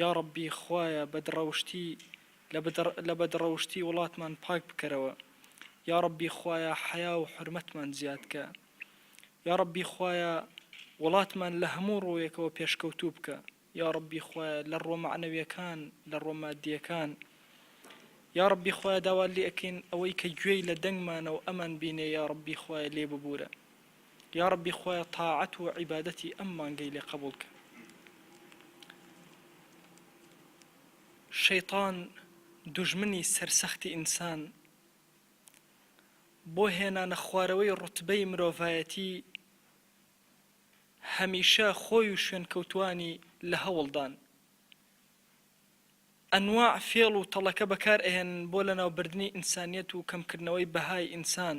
یاڕەبی خوایە بەدڕەوشتی لە بەدڕەوشتی وڵاتمان پاک بکەرەوە یاڕەبی خوایە حەیا و حورمەتمان زیادکە یاڕەبی خوایە وڵاتمان لە هەموو ڕووێکەوە پێشکەوتوو بکە یاڕەبی خوایە لە ڕووە مەعنەویەکان لە ڕووە مادیەکان یاڕەبی خوایە داوات لێ ئەکەین ئەوەی کە گوێی لە دەنگمانە و ئەمان بینێ یاڕەبی خوایە لێ ببوورە یاڕەبی خوایە تاعەت و عیبادەتی ئەم مانگەی لێ قەبوڵ کە شەیتان دوژمنی سەرسەختی ئینسان بۆ هێنانە خوارەوەی ڕوتبەی مرۆڤایەتی هەمیشە خۆی و شوێنکەوتوانی لە هەوڵدان ئەنواع فێڵ و تەڵەکە بەکار ئەهێنن بۆ لەناوبردنی ئینسانیەت و کەمکردنەوەی بەهای ئینسان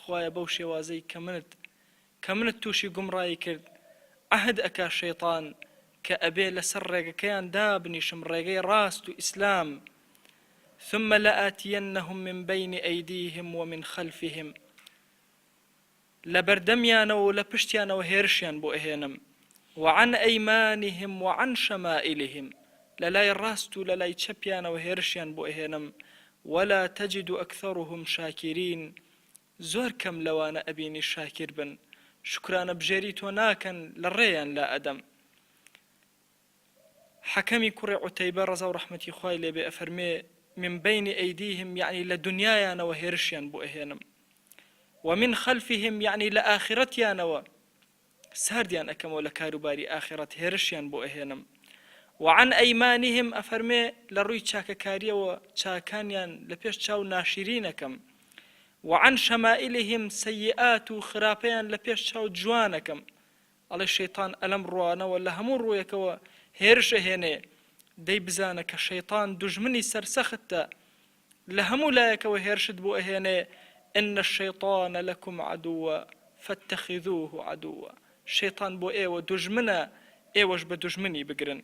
خوایە بەو شێوازەی کە منت کە منت توشی گومڕایی کرد عەهد ئەکا شەیتان کە ئەبێ لەسەر ڕێگەکەیان دابنیشم ڕێگەی ڕاست و ئیسلام ثم لآتینهم من بین ایدیهم ومن خلفهم لەبەردەمیانەوە و لە پشتیانەوە هێرشیان بۆ ئەهێنم وعن ایمانهم وعن شمائلهم لەلای ڕاست و لەلای چەپیانەوە هێرشیان بۆ ئەهێنم ولا تجد اکثرهم شاکرین زۆر کەم لەوانە ئەبینی شاکر بن شوکرانە بژێری تۆ ناکەن لە ڕێیان لا ئەدەم حەکەمی کوڕی عوتەیبە ڕەزاو ڕەحمەتی خوای لێبێ ئەفەرمێ من بین ئەیدیهم یەعنی لە دونیایانەوە هێرشیان بۆ ئەهێنم ومن خلفهم یەعنی لە ئاخرەتیانەوە ساردیان ئەکەمەوە لە کاروباری ئاخیڕەت هێرشیان بۆ ئەهێنم و عن ایمانهم ئەفەرمێ لە ڕووی چاکەکاریەوە چاکانیان لە پێش چاو ناشیرین ئەکەم و عن شمائلهم سیئات و خراپەیان لە پێش چاو جوان ئەکەم ئەڵێ شەیتان ئەلەم ڕوانەوە لە هەموو ڕوویەکەوە هێرش ئەهێنێ دەی بزانە کە شەیتان دوژمنی سەرسەختە لە هەموو لایەکەوە هێرشت بۆ ئەهێنێ، ان الشیطان لکم عدو فاتخذوه عدوا، شەیتان بۆ ئێوە دوژمنە ئێوەش بە دوژمنی بگرن.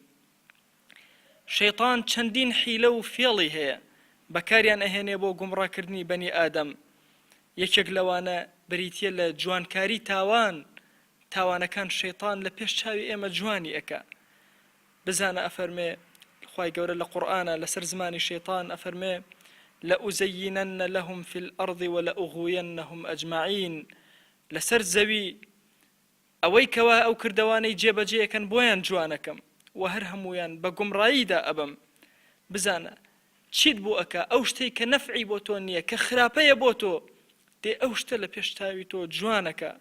شەیتان چەندین حیلە و فێڵی هەیە بەکاریان ئەهێنێ بۆ گومڕاکردنی بەنی ئادەم، یەکێک لەوانە بریتیە لە جوانکاری تاوان، تاوانەکان شەیتان لە پێش چاوی ئێمە جوانی ئەکا. بزانە ئەفەرمێ خوای گەورە لە قورئانا لەسەر زمانی شەیتان ئەفەرمێ، لەئوزەیینەنە لەهم فی الارض ولئوغوینەهم اجمعین لەسەر زەوی ئەوەی کەوا ئەو کردەوانەی جێ بەجێ ئەکەن بۆیان جوانەکەم وە هەر هەموویان بە گومڕاییدا ئەبەم بزانە چیت بۆ ئەکا ئەو شتەی کە نەفعی بۆ تۆ نیە کە خراپەیە بۆ تۆ دێ ئەو شتە لە پێش چاوی تۆ جوانەکا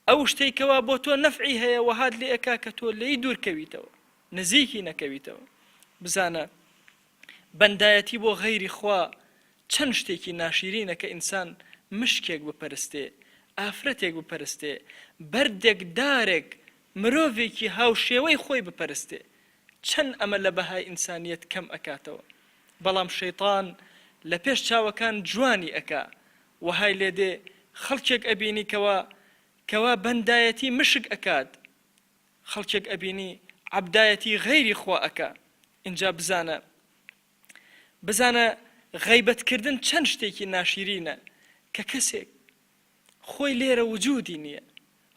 ئەو شتەی کەوا بۆ تۆ نەفعی هەیە وەهات لێ ئەکا کە تۆ لێی دوور کەویتەوە نزیکی نەکەویتەوە بزانە بەندایەتی بۆ غەیری خوا چەند شتێکی ناشیرینە کە ئینسان مشکێک بپەرستێ ئافرەتێک بپەرستێ بەردێک دارێک مرۆڤێکی هاوشێوەی خۆی بپەرستێ چەن ئەمە لە بەهای ئینسانیەت کەم ئەکاتەوە بەڵام شەیتان لە پێش چاوەکان جوانی ئەکا وەهای لێ دێ خەڵکێک ئەبینی کەوا کەوا بەندایەتی مشک ئەکات خەڵکێک ئەبینی عەبدایەتی غەیری خوا ئەکا ئینجا بزانە بزانە غەیبەت کردن چەن شتێکی ناشیرینە کە کەسێک خۆی لێرە وجودی نیە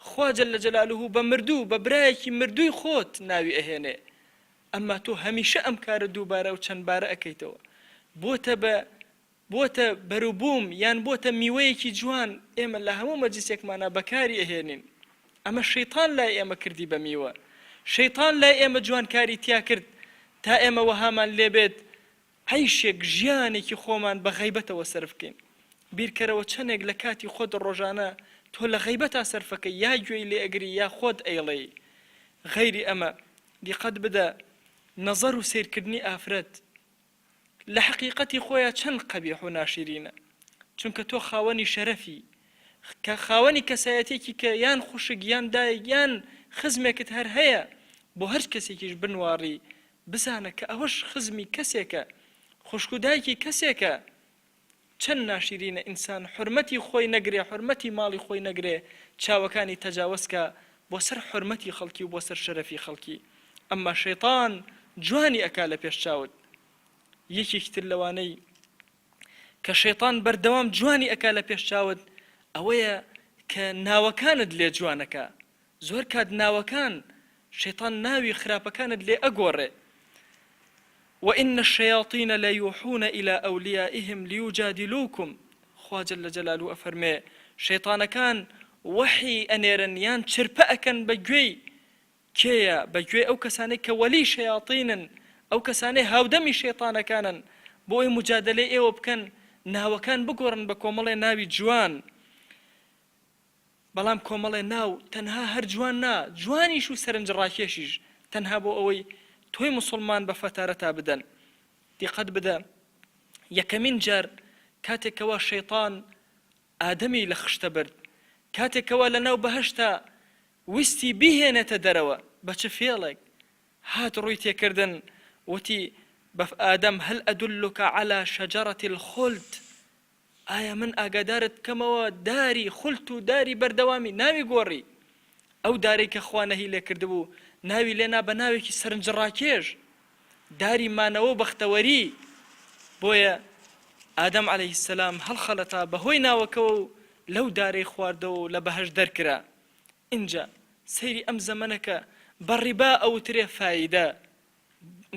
خوا جل جلالە بە مردوو بە برایەکی مردووی خۆت ناوی ئەهێنێ ئەمما تۆ هەمیشە ئەم کارە دووبارە و چەند بارە ئەکەیتەوە بۆتە بە بۆتە بەروبووم یان بۆتە میوەیەکی جوان ئێمە لە هەموو مەجلیسێکمانە بەکاری ئەهێنین ئەمە شەیتان لای ئێمە کردی بە میوە شەیتان لای ئێمە جوانکاری تیا کرد تا ئێمە وەهامان لێبێت عەیشێک ژیانێکی خۆمان بە غەیبەتەوە سەرفکەین بیرکەرەوە چەنێک لە کاتی خۆت ڕۆژانە تۆ لە غەیبەتا سەرفەکەی یا گوێی لێ ئەگری یا خۆت ئەیڵێی غەیری ئەمە دیقەت بدە نەزەر و سەیرکردنی ئافرەت لە حەقیقەتی خۆیا چەن قەبیح و ناشیرینە چونکە تۆ خاوەنی شەرەفی کە خاوەنی کەسایەتێکی کە یان خوشک یان دایک یان خزمێکت هەر هەیە بۆ هەر کەسێکیش بنواڕی بزانە کە ئەوەش خزمی کەسێکە خوشکو دایکی کەسێکە چەن ناشیرینە ئینسان حورمەتی خۆی نەگرێ حورمەتی ماڵی خۆی نەگرێ چاوەکانی تەجاوەز کا بۆ سەر حورمەتی خەڵکی و بۆ سەر شەرەفی خەڵکی ئەمما شەیتان جوانی ئەکا لە پێش چاوت یەکێکی تر لەوانەی کە شەیتان بەردەوام جوانی ئەکا لە پێش چاوت ئەوەیە کە ناوەکانت لێ جوانەکا زۆر کات ناوەکان شەیتان ناوی خراپەکانت لێ ئەگۆڕێ و ان الشیاطین لیوحون الی اولیایهم لیجادلوکم خوا جل جلالە ئەفەرموێ شەیتانەکان وەحی ئەنێرن یان چرپە ئەکەن بە گوێی کێیە بە گوێی ئەو کەسانەی کە وەلی شەیاتینن ئەو کەسانەی هاودەمی شەیتانەکانن بۆ ئەوی موجادەلەی ئێوە بکەن ناوەکان بگۆڕن بە کۆمەڵێ ناوی جوان بەڵام کۆمەڵێ ناو تەنها هەر جوان نا جوانیش و سەرنج ڕاکێشیش تەنها بۆ ئەوەی تۆی موسوڵمان بە فەتارەتا بدەن دیقەت بدە یەکەمین جار کاتێک کەوا شەیتان ئادەمی لە خشتە برد کاتێک کەوا لە ناو بەهەشتا ویستی بیهێنێتە دەرەوە بە چ فێڵێک هات ڕووی تێکردن وتی بەف ئادەم هەل ئەدلوکە عەلا شەجەرەتی الخلد ئایا من ئاگادارت بکەمەوە داری، خلت، و داری، بەردەوامی، ناوی گۆڕی. ئەو دارەی کە خوا نەهی لێکردبوو ناوی لێنا بە ناوێکی سەرنجڕاکێش، داری مانەوە و بەختەوەری. بۆیە ئادەم عەلەیه السلام هەڵخەڵەتا بەهۆی ناوەکەوە و لەو دارەی خواردەوە و لە بەهەشت دەرکرا. ئینجا سەیری ئەم زەمەنە کە بە ڕیبا ئەوترێ فایدە،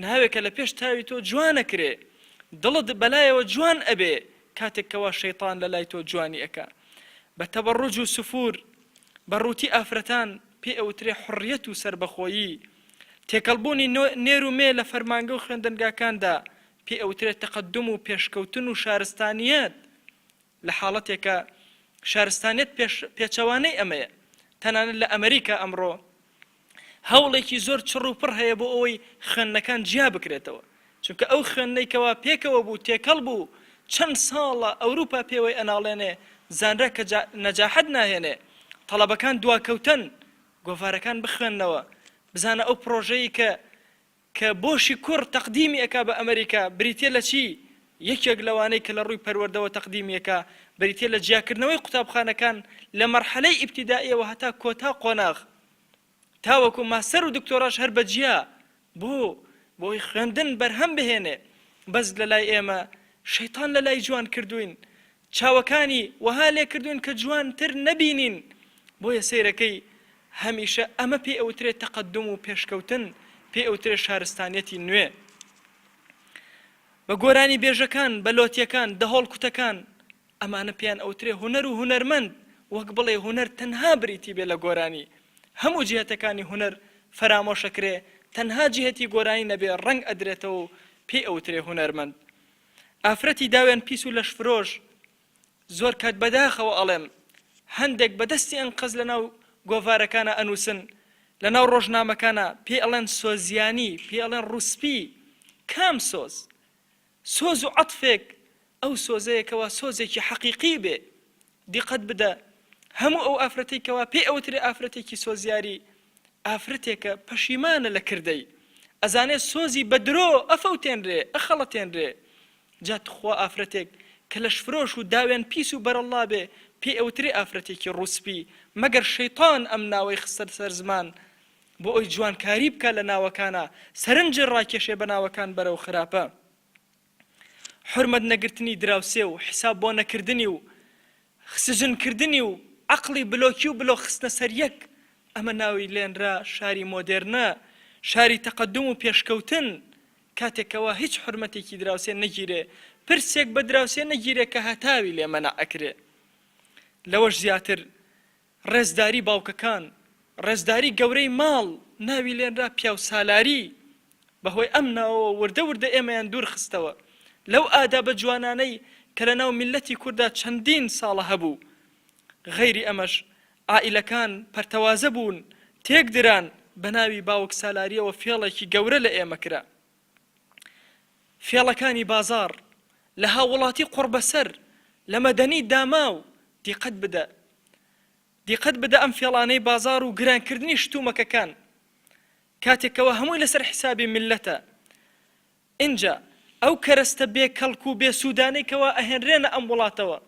ناوێکە لە پێش چاوی تۆ جوان ئەکرێ، دڵت بەلایەوە جوان ئەبێ کاتێک کەوا شەیتان لە لای تۆ جوانی ئەکا. بە تەبەڕوج و سفور، بە ڕووتی ئافرەتان، پێی ئەوترێ حوڕیەت و سەربەخۆیی. تێکەڵ بوونی نێر و مێ لە فەرمانگە و خوێندنگاکاندا، پێی ئەوترێ تەقەدوم و پێشکەوتن و شارستانیەت. لە حاڵەتێکا شارستانیەت پێش پێچەوانەی ئەمەیە، تەنانەت لە ئەمریکا ئەمڕۆ هەوڵێکی زۆر چڕ و پڕ هەیە بۆ ئەوەی خوێندنەکان جیا بکرێتەوە، چونکە ئەو خوێندنەی کەوا پێکەوە بوو تێکەڵ بوو چەند ساڵە ئەوروپا پێوەی ئەناڵێنێ زانرا کە نەجاحەت ناهێنێ تەڵەبەکان دواکەوتەن گۆڤارەکان بخوێنەوە بزانە ئەو پڕۆژەی کە کە بۆشی کوڕ تەقدیمی ئەکا بە ئەمریکا بریتیە لە چی؟ یەکێک لەوانەی کە لە ڕووی پەروەردەوە تەقدیمی ئەکا بریتیە لە جیاکردنەوەی قوتابخانەکان لە مەرحەلەی ئیبتیدائیەوە هەتا کۆتا قۆناغ تاوەکو ماستەر و دکتۆراش هەر بە جیا بۆ بۆ ئەوەی خوێندن بەرهەم بهێنێ بەس لە لای ئێمە شەیتان لە لای جوان کردووین چاوەکانی وەها لێکردوون کە جوانتر نەبینین بۆیە سەیرەکەی هەمیشە ئەمە پێی ئەوترێ تەقەدوم و پێشکەوتن پێی ئەوترێ شارستانیەتی نوێ بە گۆرانی بێژەکان بە لۆتیەکان دەهۆڵ کوتەکان ئەمانە پێیان ئەوترێ هونەر و هونەرمەند وەک بڵێ هونەر تەنها بریتی بێ لە گۆرانی هەموو جهتەکانی هونەر فەرامۆشەکرێ تەنها جهتی گۆرانی نەبێ ڕەنگ ئەدرێتەوە و پێی ئەوترێ هونەرمەند ئافرەتی داوێن پیس و لەشفرۆش زۆر کات بەداخەوە ئەڵێم هەندێک بەدەستی ئەنقەز لەناو گۆڤارەکانە ئەنووسن لەناو ڕۆژنامەکانە پێ ئەڵێن سۆزیانی پێ ئەڵێن ڕوسپی کام سۆز سۆز و عەتفێک ئەو سۆزەیەکەوە سۆزێکی حەقیقی بێ دیقەت بدە هەموو ئەو ئافرەتەی کەوا پێی ئەوترێ ئافرەتێکی سۆزیاری ئافرەتێکە پەشیمانە لە کردەی ئەزانێ سۆزی بە درۆ ئەفەوتێنرێ ئەخەڵەتێنرێ جا تخوا ئافرەتێک کە لەشفرۆش و داوێن پیس و بەرەڵڵا بێ پێی ئەوترێ ئافرەتێکی ڕووسپی مەگەر شەیتان ئەم ناوەی خستە سەر زمان بۆ ئەوی جوانکاری بکا لە ناوەکانا سەرنجی ڕاکێشێ بە ناوەکان بەرەو خراپە حورمەت نەگرتنی دراوسێ و حیساب بۆ نەکردنی و خسجن کردنی و عەقڵی بلۆکی و بلۆک خستنە سەر یەک ئەمە ناوی لێنرا شاری مۆدێرنە شاری تەقەدوم و پێشکەوتن کاتێک کەوا هیچ حورمەتێکی دراوسێ نەگیرێ پرسێک بە دراوسێ نەگیرێ کە هەتاوی لێ مەنع ئەکرێ لەوەش زیاتر ڕێزداری باوکەکان، ڕێزداری گەورەی ماڵ ناوی لێنرا پیاوسالاری، بەهۆی ئەم ناوەوە وردە وردە ئێمەیان دوور خستەوە لەو ئادابە جوانانەی کە لەناو میللەتی کوردا چەندین ساڵە هەبوو، غەیری ئەمەش عائیلەکان پەرتەوازە بوون تێک دران، بەناوی باوکسالاریەوە فێڵێکی گەورە لە ئێمە کرا. فێڵەکانی بازاڕ لە هاووڵاتی قوڕبەسەر لە مەدەنی داماو دیقەت بدە دیقەت بدە ئەم فێڵانەی بازاڕ و گرانکردنی شتومەکەکان کاتێک کەوا هەمووی لەسەر حیسابی میللەتە ئینجا ئەو کەرەستە بێ کەڵک و بێ سوودانەی کەوا ئەهێنرێنە ئەم وڵاتەوە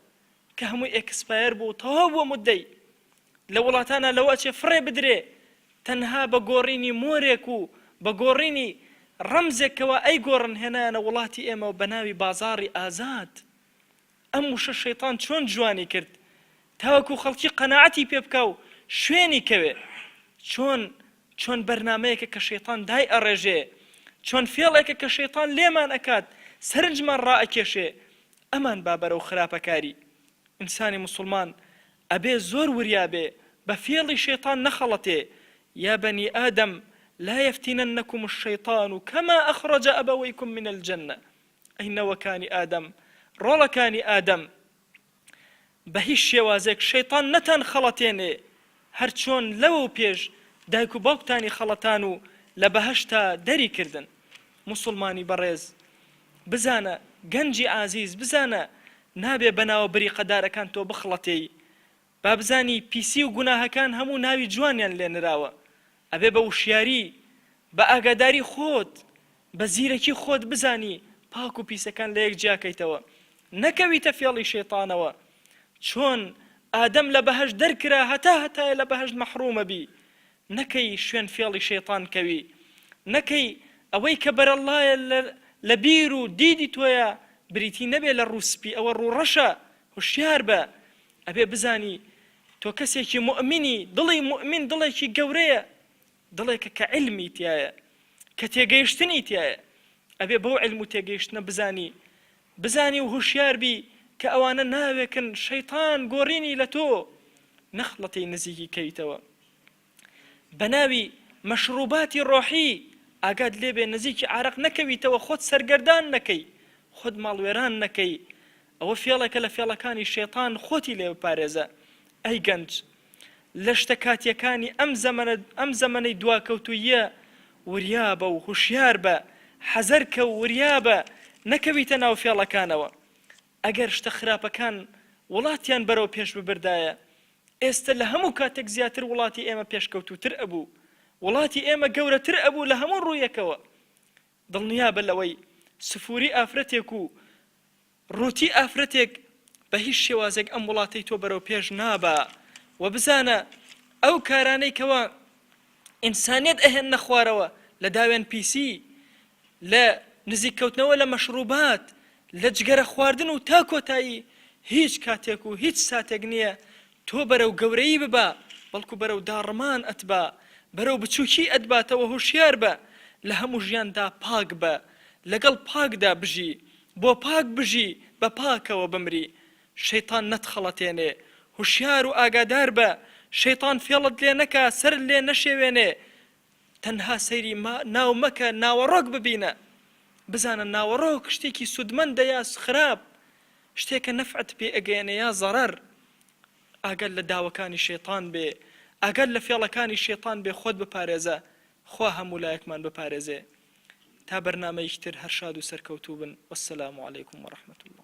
کە هەمووی ئێکسپایەر بوو تەواو بووە مودەی لە وڵاتانا لەوە ئەچێ فڕێ بدرێ تەنها بە گۆڕینی مۆرێک و بە گۆڕینی ڕەمزێک کەوا ئەیگۆڕن هێنایانە وڵاتی ئێمەوە بە ناوی بازاڕی ئازاد ئەم وشە شەیتان چۆن جوانی کرد تاوەکو خەڵکی قەناعەتی پێ بکا و شوێنی کەوێ چۆن چۆن بەرنامەیەکە کە شەیتان دای ئەڕێژێ چۆن فێڵێکە کە شەیتان لێمان ئەکات سەرنجمان ڕائەکێشێ ئەمان با بەرەو خراپەکاری ئینسانی مسوڵمان ئەبێ زۆر وریا بێ بە فێڵی شەیتان نەخەڵەتێ، یا بەنی ئادەم لا یەفتینەنەکوم الشەیتان کەما ئەخڕەجە ئەبەوەیکوم من الجەنە، ئەی نەوەکانی ئادەم، ڕۆڵەکانی ئادەم، بە هیچ شێوازێک شەیتان نەتان خەڵەتێنێ، هەر چۆن لەوەو پێش دایک و باوکتانی خەڵەتان و لە بەهەشتا دەری کردن. موسوڵمانی بەڕێز! بزانە گەنجی ئازیز بزانە نابێ بەناوە بریقە دارەکان تۆ بخڵەتێی با بزانی پیسی و گوناهەکان هەموو ناوی جوانیان لێ نراوە ئەبێ بە وشیاری بە ئاگاداری خۆت بە زیرەکی خۆت بزانی پاک و پیسەکان لە یەک جیا کەیتەوە نەکەویتە فێڵی شەیتانەوە چۆن ئادەم لە بەهەشت دەرکرا هەتا هەتایە لە بەهەشت مەحرومە بی نەکەی شوێن فێڵی شەیتان کەوی نەکەی ئەوەی کە بەرەڵڵایە لە لە بیر و دیدی تۆیە بریتی نەبێ لە ڕوو سپی ئەوە ڕوو ڕەشە هوشیار بە ئەبێ بزانی تۆ کەسێکی موئمینی دڵی موئمین دڵێکی گەورەیە دڵێکە کە علمی تایە کە تێگەیشتنی تایە ئەبێ بەو علم و تێگەیشتنە بزانی بزانی و هوشیار بی کە ئەوانە ناوێکن شەیتان گۆرینی لە تۆ نەخڵەتی نزیکی کەیتەوە بە ناوی مەشروباتی ڕۆحی ئاگات لێ بێ نزیکی عارەق نەکەویتەوە خۆت سەرگەردان نەکەی خۆت ماڵوێران نەکەی ئەوە فێڵێکە لە فێڵەکانی شەیتان خۆتی لێ بپارێزە ئەی گەنج لە شتە کاتییەکانی ئەم زەمەنە ئەم زەمەنەی دواکەوتووییە وریا بە و هوشیار بە، حەزەر کە و وریا بە نەکەویتە ناو فێڵەکانەوە. ئەگەر شتە خراپەکان وڵاتیان بەرەو پێش ببردایە، ئێستە لە هەموو کاتێک زیاتر وڵاتی ئێمە پێشکەوتووتر ئەبوو. وڵاتی ئێمە گەورەتر ئەبوو لە هەموو ڕوویەکەوە. دڵنیابە لەوەی سفوری ئافرەتێک و ڕووتی ئافرەتێک بە هیچ شێوازێک ئەم وڵاتەی تۆ بەرەو پێش نابا و بزانە ئەو کارانەی کەوا ئینسانیت ئەهێنە خوارەوە لە داوێن پیسی لە نزیککەوتنەوە لە مەشروبات لە جگەرە خواردن و تا کۆتایی هیچ کاتێک و هیچ ساتێک نییە تۆ بەرەو گەورەیی ببە بەڵکو بەرەو داڕمان ئەتبا بەرەو بچوکی ئەتباتەوە هۆشیار بە لە هەموو ژیان دا پاک بە لەگەڵ پاک دا بژی بۆ پاک بژی بە پاکەوە بمری شەیتان نەتخەڵەتێنێ هۆشیار و ئاگادار بە شەیتان فێڵت لێ نەکا سەرت لێ نەشێوێنێ تەنها سەیری ما ناو مەکە ناوەڕۆک ببینە بزانە ناوەڕۆک شتێکی سودمەندە یا خراپ شتێکە نەفعت پێ ئەگەیەنێ یا زەڕەر ئاگات لە داوەکانی شەیتان بێ ئاگات لە فێڵەکانی شەیتان بێ خۆت بپارێزە خوا هەموو لایەکمان بپارێزێ تا بەرنامەیەکی تر هەر شاد و سەرکەوتوو بن وەسەلام علیکم وەڕەحمەتوڵڵا